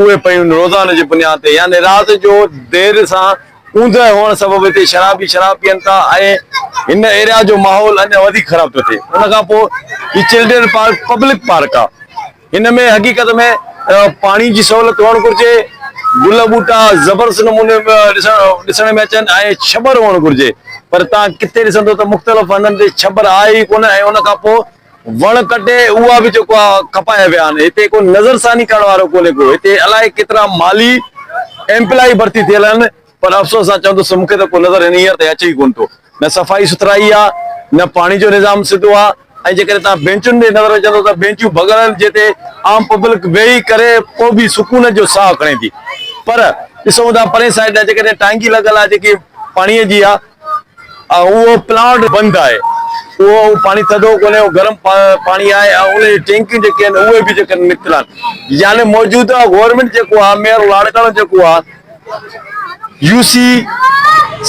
اهي پيون روزانو جي بنياد تي يعني رات جو دير سان اوندهه هئڻ سبب هتي شرابي شراب پيئن ٿا ۽ هن ايريا جو ماحول اڃا وڌيڪ خراب ٿو ٿئي ان کان پوء هي چلڊرين پارڪ پبلڪ پارڪ آ هن ۾ حقيقت ۾ پاڻي جي سهولت هئڻ گهرجي گل ٻوٽا زبردست نموني ڏسڻ ۾ اچن ۽ ڇٻر هئڻ گهرجي پر تان ڪٿي ڏسندو ته مختلف هنڌن تي ڇٻر آهي ئي ڪونه ۽ ان کان پوء وڻ ڪٽي اها به جيڪو آهي کپايا ويا آهن هتي ڪو نظر ثاني ڪرڻ وارو ڪونهي ڪو هتي الائي ڪيترا مالي ايمپلائي ڀرتي ٿيل آهن پر افسوس سان چون ٿو سو مون کي ته ڪو نظر هينئر تائين اچي ئي ڪونه ٿو نه صفائي سٿرائي آهي نه پاڻي جو نظام سڌو آهي ۽ جيڪڏهن توهان بينچن ڏي نظر وجهندو ته بينچون ڀڳل آهن جنهن تي عام پبلڪ ويهي ڪري پوء به سڪون جو ساهه کڻي ٿي پر ڏسون ٿا پرين سائيڊ ڏانهن جيڪڏهن ٽانڪي لڳل آهي جيڪي پاڻيء جي آهي اهو پلانٽ بند آهي اهو پاڻي ٿڌو ڪونهي اهو گرم پاڻي آهي ۽ ان جي ٽينڪيون جيڪي آهن اهي به جيڪڏهن نڪرن يعني موجوده گورنمينٽ جيڪو آهي ميئر لاڙڪاڻو جيڪو آهي يو سي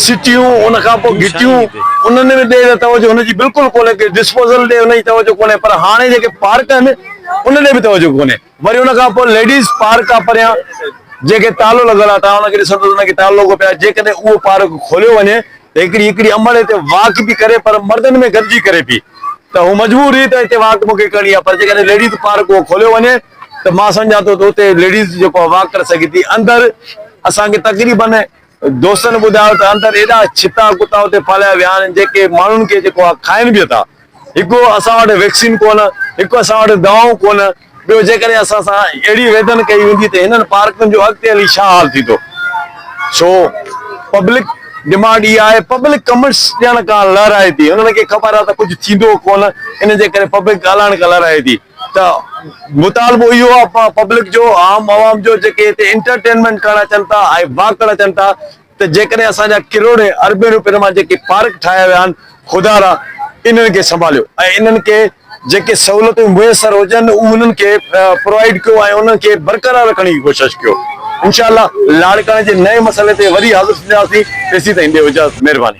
سٽيون ان کان پوء گهٽيون انهن ۾ ڏي ته توجه ان جي بلڪل ڪونهي ڪي ڊسپوزل ڏي ان جي توجه ڪونهي پر هاڻي جيڪي پارڪ آهن ان ڏي به توجه ڪونهي وري ان کان پوء ليڊيز پارڪ آ پريان جنهن کي تالو لڳل آ، توهان ان کي ڏسندو ته ان کي تالو لڳو پيو آ، جيڪڏهن اهو پارڪ کوليو وڃي ته هڪڙي هڪڙي امڙ هتي واڪ به ڪري پر مردن ۾ گڏجي ڪري پئي ته هو مجبور رهي ته هتي واڪ مونکي ڪرڻي آ پر جيڪڏهن ليڊيز پارڪ اهو کوليو وڃي ته مان سمجهان ٿو ته اتي ليڊيز جيڪو آ واڪ ڪري سگهي ٿي اندر اسان کي تقريبن دوستن ٻڌايو ته اندر ايڏا ڇتا ڪتا اتي پاليا ويا آهن جيڪي ماڻهن کي جيڪو آهي کائين به اٿا. هڪ اسان وٽ ويڪسين ڪونه، هڪ اسان وٽ دوائون ڪونه، ٻيو جيڪڏهن اسان سان اهڙي ويڌن ڪئي ويندي ته هنن پارڪن جو اڳتي هلي ڇا حال ٿيندو؟ سو پبلڪ ڊمانڊ اها آهي، پبلڪ ڪمنٽس ڄڻڪاهن لهرائي ٿي، هنن کي خبر آهي ته ڪجهه ٿيندو ڪونه، ان جي ڪري پبلڪ ڳالهائڻ کان لهرائي ٿي. ته مطالبو اهو آهي ته پبلڪ جو عام عوام جو جيڪي هتي انٽرٽينمينٽ ڪرڻ اچن ٿا ۽ واڪ ڪرڻ اچن ٿا ته جيڪڏهن اسان جا ڪروڙين اربين روپين مان جيڪي پارڪ ٺاهيا ويا آهن خدا را انهن کي سنڀاليو ۽ انهن کي جيڪي سهولتون ميسر هجن اهي انهن کي پرووائيڊ ڪيو ۽ انهن کي برقرار رکڻ جي ڪوشش ڪيو انشاء الله لاڙڪاڻي جي نئين مسئلي تي وري حاضر ٿينداسين تيسين تائين ڏيو اجازت مهرباني.